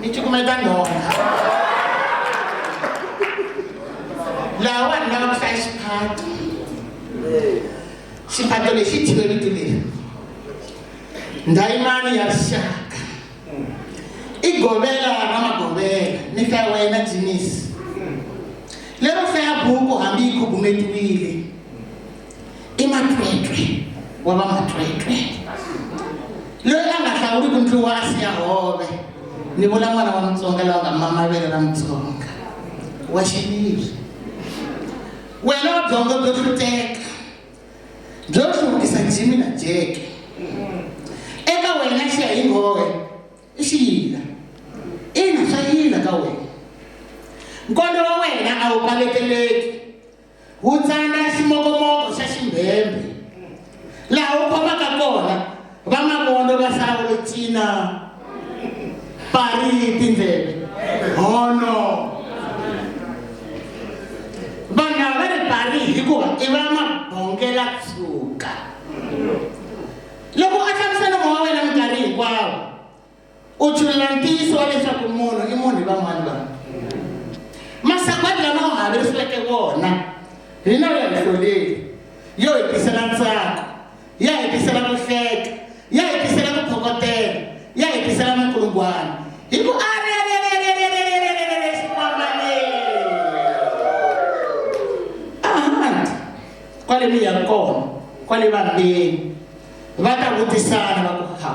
ni cukumeta nhonga laha vanhu lava ku hlaya xiphato xiphato lexi thiwe vito leri ndhayimani ya rixaka i govela ra magovela ni hlaya wa yena jinisi lero hlaya buku hambi yi khubumetiwile i matwetwe wa va matwetwe loyi a nga hlawuliki ndlu wa asi ya hove ni vula n'wana wa mutsonga lowa nga mamavele ra mutsonga wa xiviri wena wa byongo byo hluteka byo hluvukisa jimi na jeke eka wena xiya hi nghohe i xiyila ina swa yila ka wena nkondo wa wena a wu paleteleki Wu tsala ximokomoko xa ximbhembhe laha wu khomaka kona vamavondo va Sawulo cina pari tindleve hono vanhu lava va ri pari hikuva i va mabongela tshuka loko a hlamusela mowa wena minkarhi hinkwawo u chulela ntiyiso wa leswaku munhu i munhu hi van'wana vanhu masagwadi lama u haverisiweke wona hina u ya hi hloleli yo hi tisela ntsako ya hi tisela ku hleka ya hi tisela ku phokotela ya hi tisela minkulungwana hi ku a kwale mi ya kona kwale vambeni va ta vutisana va ku ha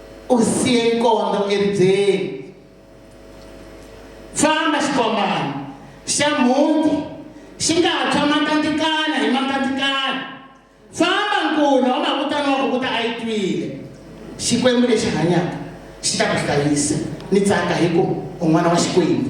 u siye nkondo eribyeni famba xikombana xa mhuti xi nga ha tshwa makatikana hi makatikana famba nkuna wa makutana wa kukuta a yi twile xikwembu lexi hanyaka xi ta ku hlayisa ni tsaka hi ku u n'wana wa xikwembu